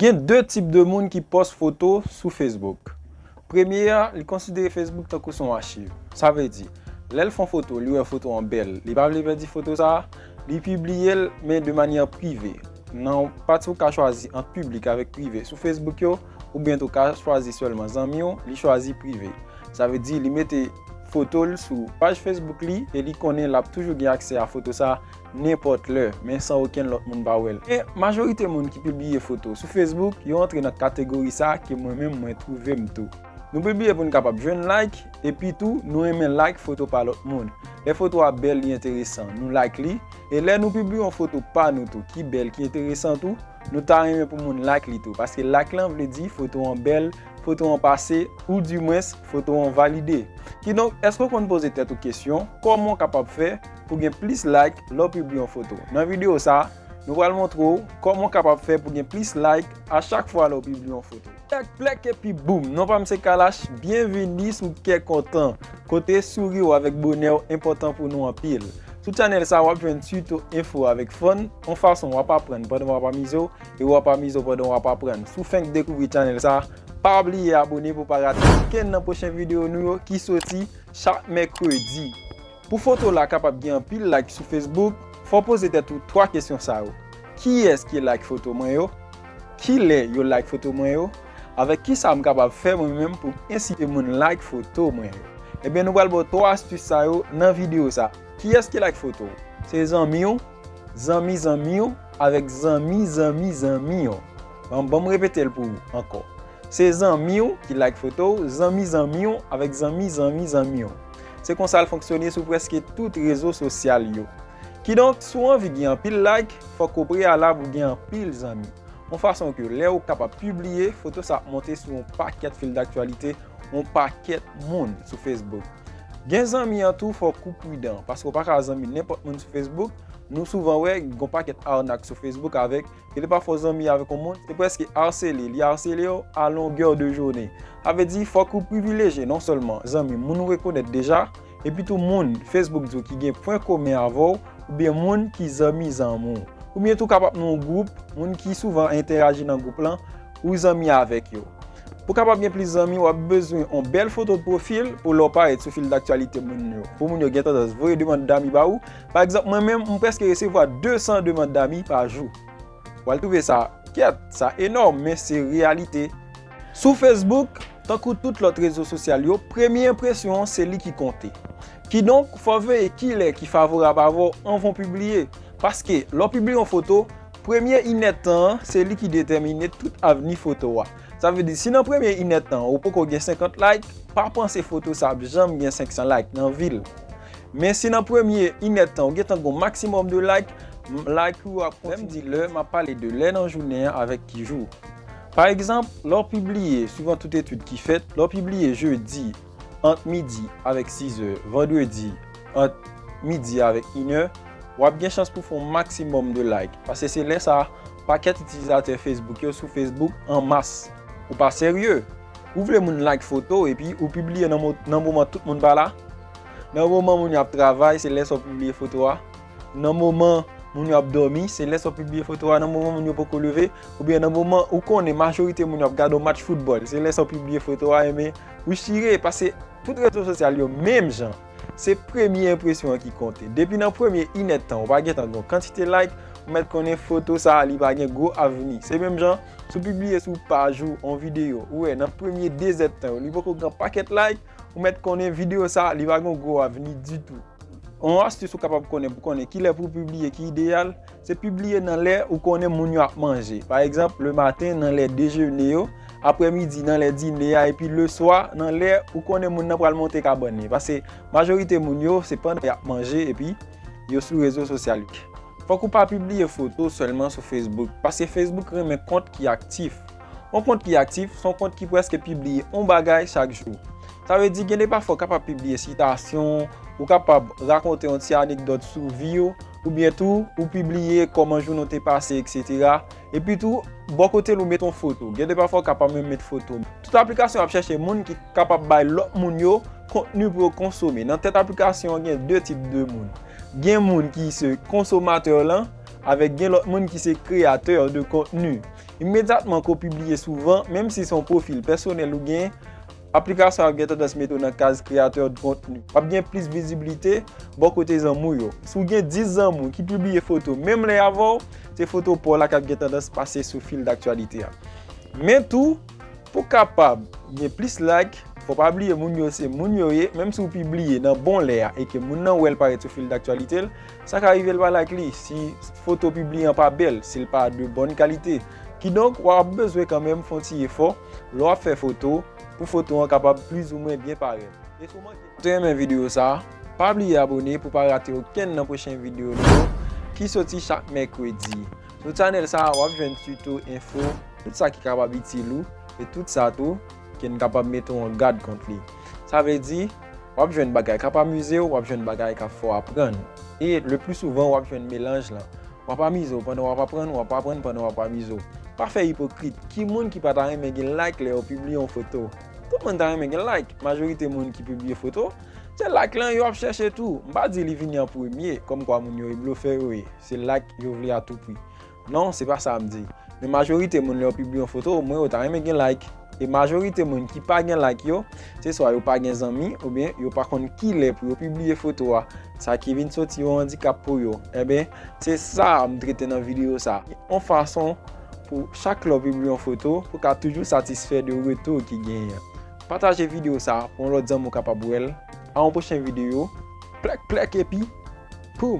Gen 2 tip de moun ki pòs foto sou Facebook. Premye a, li konsidere Facebook tankou son achiv. Sa vle di, lè l fon foto, li wè foto an bèl, li pa vle pèdi foto sa a, li pibliye l men de manyè prive. Nan pati ou ka chwazi ant piblik avèk prive sou Facebook yo, oubyen tou ka chwazi sèlman zanmi w, li chwazi prive. Sa vle di li mete foto l sou paj Facebook li e li konnen l ap toujou gen aksè a foto sa a. nenpòt lè, men san okenn lòt moun pa wè l. Men, majorite moun ki pibliye foto sou Facebook, yo antre nan kategori sa ke mwen menm mwen twouve m tou. Nou pibliye pou n kapab jwenn like, epi tou, nou renmen like foto pa lòt moun. Lè foto a bèl, li enteresan, nou like li, e lè nou pibliye yon foto pa nou tou ki bèl, ki enteresan tou, Nou ta renmen pou moun like li tou paske like lan vle di foto an bèl, foto an pase ou di mwens foto an valide. Kidonk èske ou konn poze tèt ou kesyon kòman ou kapab fè pou gen plis like lè ou pibliye yon foto? Nan videyo sa, nou pral montre ou kòman ou kapab fè pou gen plis like a chak fwa lè ou pibliye yon foto. Plèk plèk epi boum! Non pa m se Kalash, byenvini sou Kè Kontan, kote souri w avèk bonè w enpòtan pou nou anpil. Sou channel sa w ap jwenn tuto, enfo avèk fun, yon fason w ap aprann pandan w ap amize w e w ap amize w pandan w ap aprann. Si w fenk dekouvri channel sa, pa bliye abone pou w pa rate okenn nan pwochen videyo nou yo ki soti chak mèkredi. Pou foto w la kapab gen anpil like sou Facebook, fò w poze tèt ou 3 kesyon sa yo, Kiyès ki like foto mwen yo? Kilè yo like foto mwen yo? Avèk kisa m kapab fè mwen menm pou m ensite moun like foto mwen yo? Ebyen nou pral ba w 3 astis sa yo nan videyo sa. Kiyès ki like foto w? Se zanmi w, zanmi zanmi w, avèk zanmi zanmi zanmi w. Bon, banm repete l pou ou ankò. Se zanmi w ki like foto w, zanmi zanmi w avèk zanmi zanmi zanmi w. Se konsa l fonksyone sou prèske tout rezo sosyal yo. Kidonk, si w anvi gen anpil like, fòk ou preyalab ou gen anpil zanmi. Yon fason ke lè ou kapab pibliye, foto sa ap monte sou yon pakèt fil daktyalite yon pakèt moun sou Facebook. Gen zanmi an tou fòk ou pridan, paske ou pa ka zanmi nenpòt moun sou Facebook. Nou souvan wè gen yon pakèt arnak sou Facebook avèk. Ke li pa fò zanmi avèk yon moun, se prèske arsele, li arsele w a longè de jounen. Sa vle di, fòk ou privilejye non sèlman zanmi moun ou rekonèt deja, epi tou moun Facebook di w ki gen pwen komen avè w, oubyen moun ki zanmi zanmi w. Oubyen tou kapab nan yon gwoup, moun ki souvan entèaji nan gwoup lan, ou zanmi avèk yo. Pou kapab gen plis zanmi, w ap bezwen yon bèl foto pwofil pou lè w parèt sou fil daktyalite moun yo, pou moun yo gen tandans voye demand dami ba ou, Pa egzanp mwen menm m preske resevwa 200 demand dami pa jou. Wal twouve sa kèt, sa enòm men se reyalite. Sou Facebook, tankou tout lòt rezo sosyal yo, premye enpresyon an se li ki konte. Kidonk, fò w veye kilè ki favorab avè w anvan w pibliye. Paske, lè w pibliye yon foto, premye inèdtan an se li ki detèmine tout avni foto a. Sa vle di si nan premye inèd tan ou poko gen 50 like, pa panse foto sa ap janm gen 500 like nan vi l. Men si nan premye inèd tan ou gentan gon maksimòm de like, like ou yo ap kontinye. Lè m di lè, m ap pale de lè nan jounen an avèk ki jou. Pa egzanp, lè w pibliye, suivan tout etid ki fèt, lè w pibliye jedi, ant midi avèk sizè vandredi ant midi avèk inè, w ap gen chans pou fè yon maksimòm de like pase se lè sa pakèt itilizatè Facebook yo sou Facebook an mas. Ou pa serye? Ou vle moun like foto w epi ou pibliye nan moman tout moun pa la? Nan moman moun yo ap travay se lè sa w pibliye foto a? Nan moman moun yo ap dòmi se lè sa w pibliye foto a? Nan moman moun yo poko leve? Oubyen nan moman ou konnen majorite moun yo ap gade yon match foutbòl se lè sa w pibliye foto a? Enben. Wi chire, pase tout rezo sosyal yo menm jan, se premye enpresyon an ki konte. Depi nan premye inèd tan ou pa gentan gen kantite like, ou mèt konnen foto sa li pa gen gwo avni. Se menm jan, si w pibliye sou paj ou yon videyo, ou wè nan premye dezèd tan yo li poko gen yon pakèt like, ou mèt konnen videyo sa li pa gen yon gwo avni ditou. Yon astis ou kapab konnen pou konnen kilè pou w pibliye ki ideyal, Se pibliye nan lè ou konnen moun yo ap manje. Pa egzanp, le maten nan lè dejene yo, apre midi nan lè dine a epi le swa nan lè ou konnen moun nan pral monte kabann li. Pase majorite moun yo se pandan y ap manje epi yo sou rezo sosyal yo. Fòk ou pa pibliye foto sèlman sou Facebook, pase Facebook renmen kont ki aktif. Yon kont ki aktif se yon kont ki prèske pibliye yon bagay chak jou. Sa vle di gen de pafwa ou kapab pibliye sitasyon, ou kapab rakonte yon ti anekdòt sou vi ou, oubyen tou ou pibliye kòman jounen w te pase eksetera, epi tou bò kote l ou met yon foto, gen de pafwa ou ka pa menm met foto. Tout aplikasyon ap chèche moun ki kapab bay lòt moun yo kontni pou yo konsome, nan tèt aplikasyon an gen de tip de moun, gen moun ki se konsomatè lan, avèk gen lòt moun ki se kreyatè de kontni. Imedyatman ke w pibliye souvan, menm si se yon pwofil pèsonèl ou gen, Aplikasyon an ap gen tandans mete w nan kaz kreyatè dkontni. W ap gen plis vizibilite bò kote zanmi w yo. Si w gen 10 zanmi w ki pibliye foto menm lè avè w, se foto pa w la k ap gen tandans pase sou fil daktyalite a. Men tou, pou w kapab gen plis like, fò w pa bliye moun yo se moun yo ye, menm si w pibliye nan bon lè a e ke moun nan wè l parèt sou fil daktyalite l, sa ka rive l pa like li si foto w pibliye an pa bèl, si l pa de bòn kalite. Kidonk, w ap bezwen kanmenm fè yon ti efò. Lè wap fè foto, pou foto an kapab plizoumwen byen parèt. E si w manke te renmen videyo sa, pa bliye abone pou pa rate okenn nan pwochen videyo nou yo ki soti chak mèkredi. Sou channel sa wap jwenn tuto, enfo, tout sa ki kapab itil ou e tout sa tou ke n kapab mete w an gad kont li. Sa vle di, wap jwenn bagay kap amize w, wap jwenn bagay kap fè w aprann e le pli souvan wap jwenn melanj lan. W ap amize w pandan w ap aprann, w ap aprann pandan w ap amize w. Pa fè ipokrit, ki moun ki pa ta renmen gen like lè yo pibliye yon foto? Tout moun ta renmen gen like, majorite moun ki pibliye foto, se like lan yo ap chèche tou. M pa di li vini an premye, kòmkwa moun yo e blofè yo ye, se like yo vle a tou pri. Non, se pa sa m di. Men majorite moun lè yo pibliye yon foto, o mwen yo ta renmen gen like. E majorite moun ki pa gen like yo, se swa yo pa gen zanmi oubyen yo pa konn ki lè pou yo pibliye foto a, sa ki vin soti yon andikap pou yo. Enben, se sa a m trete nan videyo sa a. Yon fason pou chak lè w pibliye yon foto, pou ka toujou satisfè de retou ki genyen an. Pataje videyo sa a pou yon lòt zanmi w kapab wè l. A yon pwochen videyo. Plèk plèk epi poum!